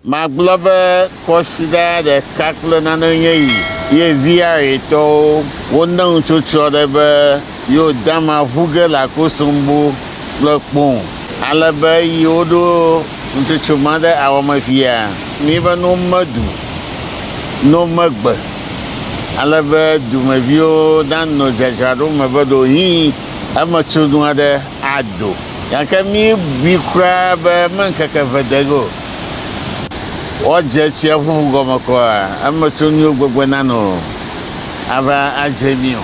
Magblɔ be kɔsiɖa ɖeka kple nane nye yi ye viaɣetɔwo wone ŋutsotsyɔ ɖe be yewo dama ʋu ge le akosombo kple kpoŋ ale be eyi woɖo ŋutsotso ma ɖe awɔme fia mi be no medu no megbe ale be dumeviwo nano dzadzraɖo me be ɖewohĩ emetso nu aɖe ado. Gake míebui kura be meŋkeke eve de ege o, woadze tsiaƒu gɔme kɔa eme tso míwo gbegbe nano ava adze mí o.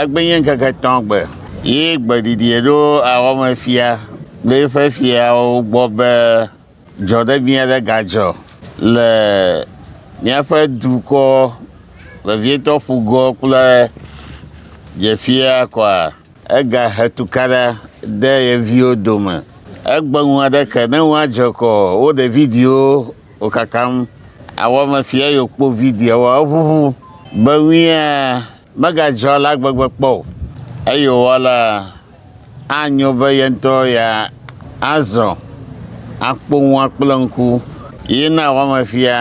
Egbenye ŋkeke etɔ̃ gbe ye gbeɖiɖi ɖo awɔme fia le eƒe fiawo gbɔ be dzɔɖebi aɖe gadzɔ le míaƒe dukɔ vevietɔ ƒugɔ kple dzeƒia kɔa? Egahe tukaɖa de ye viwo dome. Egbe ŋu aɖe ke ne woadze kɔ wo ɖe videowo wòkakam. Awɔme fia ye wòkpɔ videoawoa, eʋuʋu be ŋuia megadzɔ alea gbegbe kpɔ o. Eyowɔ la, anyo be ye ŋutɔ ya azɔ akpɔ ŋua kple ŋku. Ye na awɔme fia.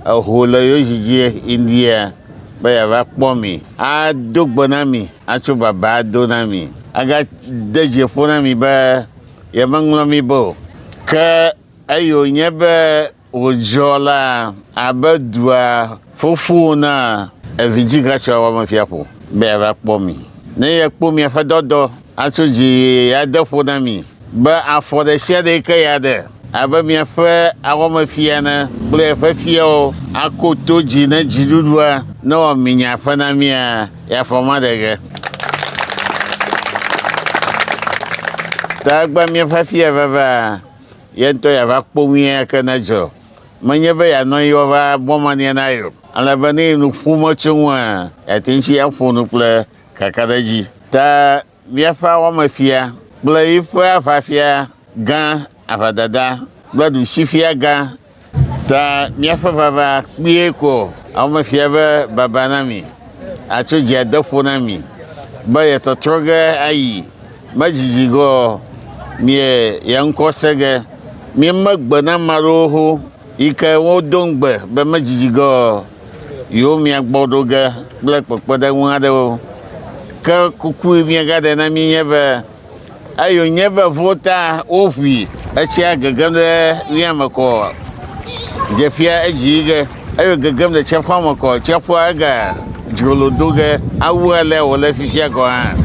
Eho le yo dzidzie India be yeava kpɔ mi, ado gbe na mi, atso baba ado na mi, agade dzi ƒo na mi be yemeŋlɔ mi be o. Ke eye wònye be wòdzɔ la abe dua fofo na evidzigãtsɔa wɔmefia ƒo be yeava kpɔ mi. Ne yekpɔ miaƒe dɔdɔ, atso dzi ade ƒo na mi, Be afɔ ɖesiaɖee ke ya ɖe, abe miaƒe awɔmefia ene, kple eƒe fiawo, ako to dzi ne dziɖuɖua newɔ minya ƒe na mía, ye afɔ maɖe ge. Ta egbea míaƒe fia vevea, ye ŋutɔ yeava kpo ŋui ake ne edzɔ. Menye be yeanɔ anyi woava bɔ mania na ye o, ale be ne ye nu ƒom etso eŋua, yeate ŋu tsi aƒo nu kple kakaɖedzi. Ta Míaƒe awɔmefia kple yiƒe aʋafia gã, aʋadada kple ɖushifia gã, ta míaƒe vava kpuie ko awɔmefia be baba na mi, atso dzi ade ƒo na mi, be yetɔtrɔ ge ayi, medzidzi ge ɔ, mie ye ŋkɔ se ge. Míeme gbe na ame aɖewo ho yike wodo ŋugbe be medzidzi ge ɔ. yewomia gbɔ ɖo ge kple kpekpeɖeŋu aɖewo. Ke kuku yi míegaɖe na mí nye be eyo nye be vo ta woʋui etsia gegem ɖe mía me kɔ dzeƒia edzi yi ge eyo gegem ɖe tsiaƒua me kɔ tsiaƒua ega dzrolo do ge awu alea wòle fifia gɔ̃ hã.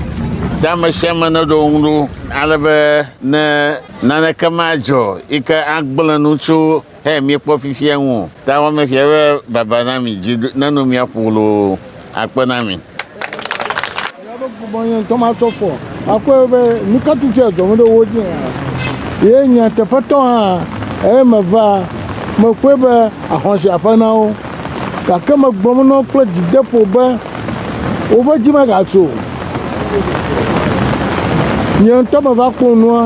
Ta ame sia ame neɖo ŋu ɖo ale be ne naneke madzɔ yi ke agblẽ nu tso He míekpɔ fifia ŋu o. Ta wɔ me fia be baba na mi dzi nano mia ƒo loo akpe na mi. Bɔnyɛ ŋutɔ matsɔ fɔ akɔe be nu ka tutu ya dzɔ ɖe wo dzi hã. Ye nyateƒetɔ hã eye meva mekpɔe be ahɔnsi aƒe na wo. gake megblɔ na wo kple dzideƒo be, Woƒe dzi megatso o. Nye ŋutɔ meva kpɔ nua,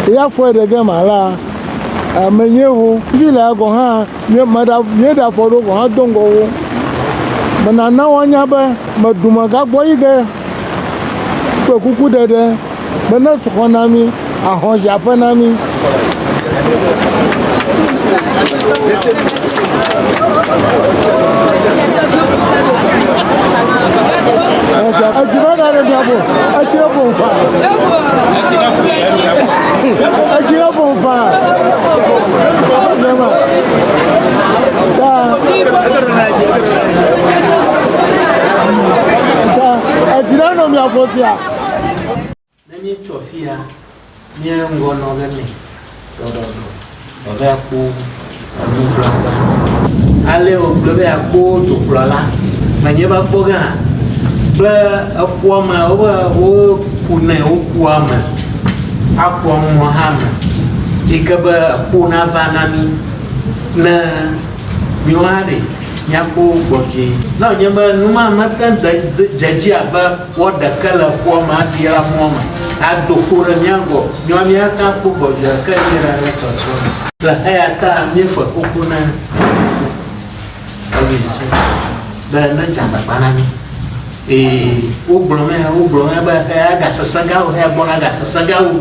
eya fɔe ɖe gema alea, menye wo. Fi laa gɔ̃ hã, míeɖe afɔ ɖewo gɔ̃ hã do ŋgɔ wo. Menana woanya be meɖu megagbɔ yi ge. kple kuku ɖeɖe be ne tu xɔ na mí, ahɔ zi aƒe na mí. Etsi va ɖe mía bo, etsi ɖe bo nfa, etsi ɖe bo nfa, zema, ta. Edzi ɖe nɔ mia ƒo sia. Ne míetsɔ fia mía ŋgɔ nɔ be mɛ ɖɔɖɔɖɔ ɖɔɖɔ akpo enu gblagba. Ale wògblɔ be akpo dukplɔ la menye va kpɔ gã kple ekua me wobe woku nɛ wokua me akua mɔ hã me yi ke be ekpo nava na mí ne míwo hã ɖe Míakpɔ wo gbɔ vie. Ne wònye be nu ma mete ŋu de dze edzi abe woaɖe ke le ƒua me aɖi la mɔ me ado kpo ɖe mía gbɔ nyɔa, míate ŋu akpɔ gbɔ vie ke yi ɖe ɖe tsɔtsrɔ̃ me. Le eya ta míefɔe xoxo na Fofo eye si be nedze agbagba na mí. Ee, wogblɔ nɛ, wogblɔ nɛ be eya gasesẽ gã o, eya gbɔna gasesẽ gã o.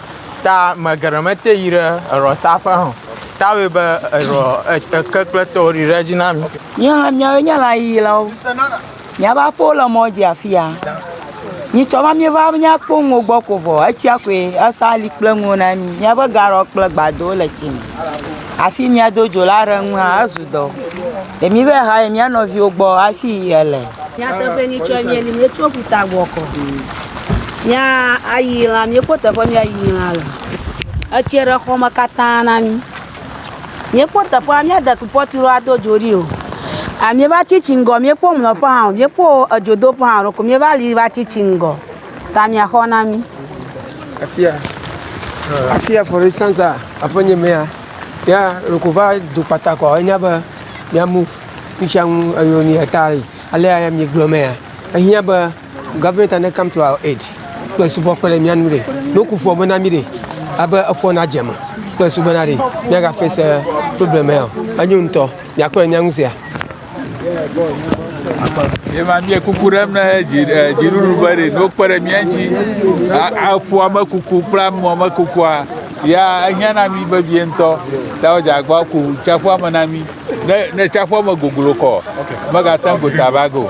Ta me geɖe mete yi ɖe erɔ sa ƒe hã o. Ta wɔe be erɔ eke kple tɔwo ɖi ɖe edzi na mi. Míawo hã míawoe nye lãyiyilawo. Míaƒe aƒewo le mɔ dzi afi ya. Nyitsɔ va míeva míakpɔ nuwo gbɔ ko vɔ etsia koe esa li kple nuwo na mí. Míaƒe gaɖɔ kple gbadowo le tsi me. Hafi míado dzo la aɖe ŋu hã ezu dɔ. Ɖe míva yi hayi mía nɔviwo gbɔ hafi ele. Nyateƒe nyitsɔe míeli. Míetso ƒuta gbɔ kɔ. Míayi lã, míekpɔ teƒe míayi lã le. Etsɛ ɖe xɔ me katã na mí. Míekpɔ teƒea, míade kupɔtu ɖo ado dzo ɖi o. A míeva tsi tsi ŋgɔ, míekpɔ mlɔƒe hã o. Míekpɔ edzodoƒe hã ɖeko míeva li va tsi tsi ŋgɔ ta miaxɔ na mí. Afi ya, afi ya for instance a, aƒe nye mea, ya loko va do kpata kɔ enya be mia move. Ŋutsia ŋu eyo ni eta yi. Alea ya míegblɔ mea, ehiã be. Government and come to our aid. Kple subɔ kpe ɖe mía nu ɖe. Ne woku ƒua me na mí ɖe. Abe eƒua na dze me. Kple subɔ na ɖe. Míaga face eh, problem ya o. Enyo ŋutɔ. Miakpɔ le mía ŋu sea. Yema mie kuku ɖem ne dziɖuɖu eh, be ɖe no kpe ɖe mía ŋuti. Eƒua me kuku kple amɔ me kukua ya ehiã na mí vevie ŋutɔ. Ta wo dzagbɔ ku tsaƒua me na mí. Ne ne tsaƒua me goglo kɔ. Megate ŋu gota bago.